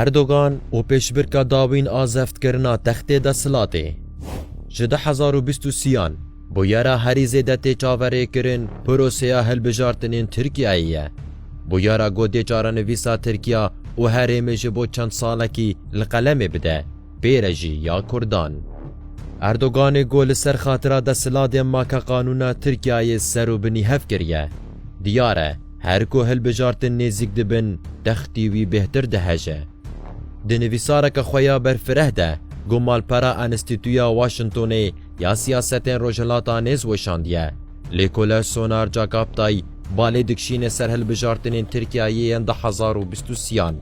Erdogan û pêşbirka dawîn a zevtkirina textê desthilatê ji du hezar û bîst û sî-yan bûyera herî zêde tê çaverêkirin proseya hilbijartinên Tirkiyeyê ye. Bûyera ku dê çarenivîsa Tirkiya û herêmê ji bo çend salekî li qelemê bide pê re jî ya Kurdan. Erdoganê ku li ser xatira desthilatê maka qanûna Tirkiyeyê ser û binî hev kiriye, diyar e Her ku hilbijartin nêzîk dibin, textî wî bêhtir diheje. Di nivîsareke xwe ya berfireh de ku malpera Enstîtuya Washingtonê ya Siyasetên Rojhilata Nêz weşandiye, lêkolej Soner Cagaptay balê dikişîne ser hilbijartinên Tirkiyeyê yên du hezar û bîst û sî yan,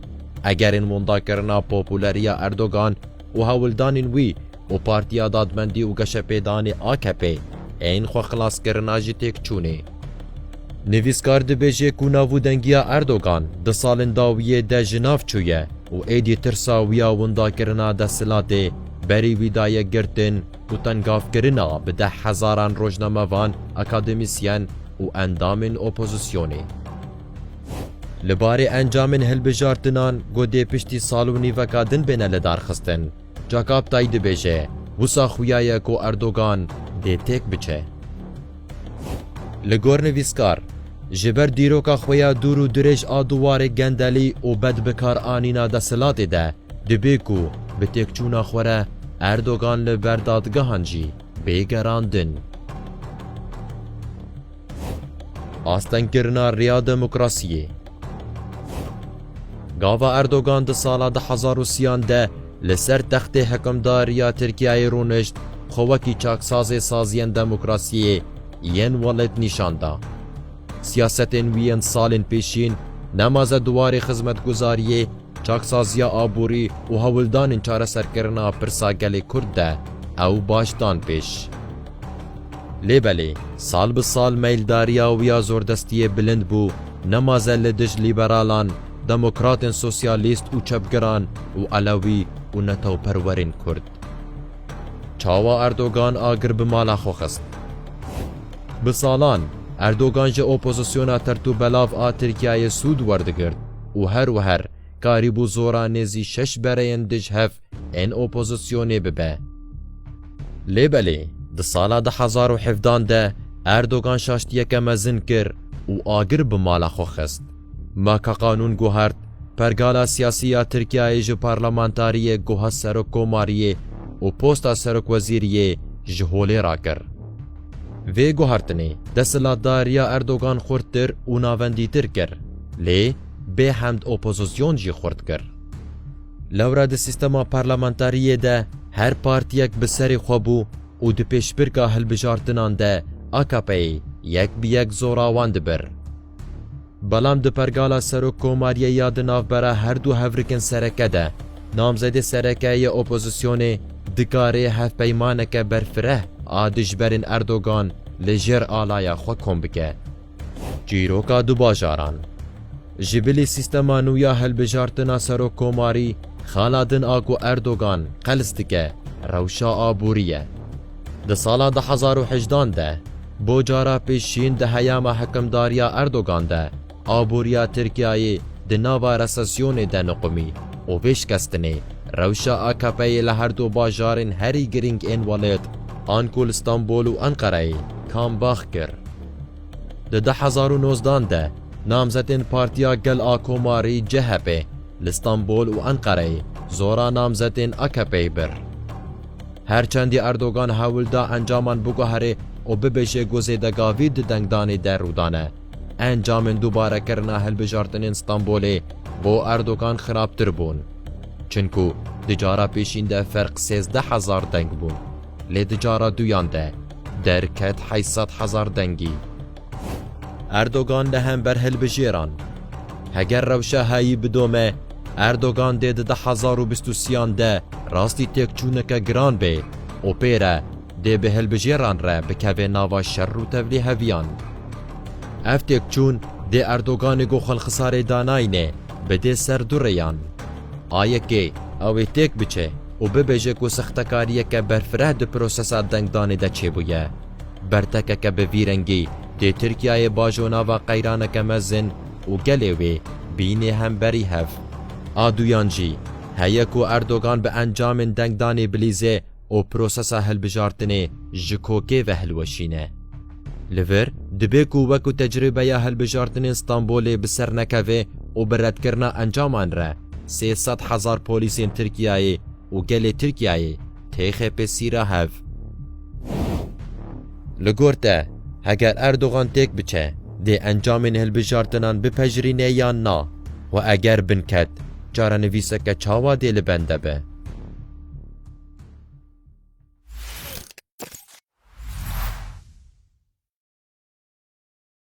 egerên windakirina populeriya Erdogan, û hewldanên wî û Partiya Dadmendî û Geşepêdanê AKP'ê ên xwexilaskirina jî têkçûnê. Nivîskar dibêje ku navûdengiya Erdogan di salên dawiyê de ji nav çûye û êdî tirsa wî ya windakirina desthilatê berî wî daye girtin û tengavkirina bi deh hezaran rojnamevan, akademîsyen û endamên opozîsyonê. Li barê encamên hilbijartinan ku dê piştî sal û nîveka din bêne lidarxistin, Cakaptay dibêje, Wisa xuya ye ku Erdogan dê têk biçe. Li gor nivîskar, ji ber dîroka xwe ya dûr û dirêj a duwarê gendelî û bedbikaranîna desthilatê de, dibê ku bi têkçûna xwe re Erdogan li ber dadgehan jî bê gerandin. Astengkirina rêya demokrasiyê. Gava Erdogan di sala du hezar û sîyan de li ser textê hikimdariya Tirkiyeyê rûnişt, xwe wekî çaksazê saziyên demokrasiyê yên welêt nîşan da. Siyasetên wî yên salên pêşîn nemaze di warê xizmetguzariyê, Çaksaziya aborî û hewldanên çareserkirina pirsa gelê Kurd de ew baş dan pêş. Lê belê sal bi sal meyldariya wî ya zordestiyê bilind bû, nemaze li dij lîberalan, demokratên sosyalîst û çepgiran û elewî û netewperwerên Kurd. Çawa Erdogan agir bi mala xwe xist? Bi salan Erdogan ji opozisyona tertûbelav a Tirkiyeyê sûd werdigirt. û her wiher karîbû zora nêzî şeş bereyên dij hev ên opozisyonê bibe. Lê belê di sala du hezar û hevdan de Erdogan şaştiyeke mezin kir û agir bi mala xwe xist. Maka Qanûn guhart, Pergala siyasî ya Tirkiyeyê ji parlamentariyê guha serokkomariyê û posta serokwezîriyê ji holê rakir. Vê guhertinê desthilatdariya Erdogan xurttir û navendîtir kir, lê bê hemd opozîsyon jî xurt kir. Lewra di sîstema parlamentariyê de her partiyek bi serê xwe bû û di pêşbirka hilbijartinan de AKP'ê yek bi yek zorawan dibir. Belam di pergala serok komariyê ya di navbera her du hevrikin sereke de, namzedê serekeyê ya opozisyonê dikarê hevpeymaneke berfireh a dijberên Erdogan li jêr alaya xwe kom bike. Çîroka du bajaran. Ji bilî sîstema nû ya hilbijartina serok komarî, xala din a ku Erdogan qels dike, rewşa aborî ye. Di sala du hezar û hejdan de bo cara pêşîn di heyama hikimdariya Erdogan de aboriya Tirkiyeyê di nava resesyonê de niqumî û vê şikestinê rewşa AKP'yê li her du bajarên herî girîng ên welit an ku li Stenbol û Enqereyê kambax kir. Di du hezar û nozdan de namzetên Partiya Gel a Komarî, CHP, li Stenbol û Enqereyê zora namzetên AKP'yê bir. Her çendî Erdogan hewl da encaman biguherê û bibêje ku zêdegavî di dengdanê de rû dane, encamên dûbarekirina hilbijartinên Stenbolê bo Erdogan xirabtir bûn. Çinku di cara pêşîn de ferq sêzdeh hezar deng bû, lê di cara duyan de derket heşt sed hezar dengî. Erdogan li hember hilbijêran. Heger rewşa heyî bidome, Erdogan dê di du hezar û bîst û sîyan de rastî têkçûneke giran bê û pê re dê bi hilbijêran re bikeve nava şer û tevlî heviyan. Ev têkçûn dê Erdoganê ku xwelxisarê danayne bidê ser du rêyan. A yekê, ew ê têk biçe û bibêje ku sextekariyeke berfireh di prosesa dengdanê de çêbûye. Bertekeke bi vî rengî dê Tirkiyeyê bajo nava qeyraneke mezin û gelê wê bînê hemberî hev. A duyan jî heye ku Erdogan bi encamên dengdanê bilîze û prosesa hilbijartinê ji kokê ve hilweşîne. Li vir dibê ku wekû tecrîbeya hilbijartinên Stenbolê bi ser nekeve û bi redkirina encaman re sê sed hezar polîsên Tirkiyeyê, û gelê Tirkiyeyê tê xêpê sîra hev. Li gor te, heger Erdogan têk biçe, dê encamên hilbijartinan bipejirîne yan na? Û eger binket, çarenivîseke çawa dê li bende be?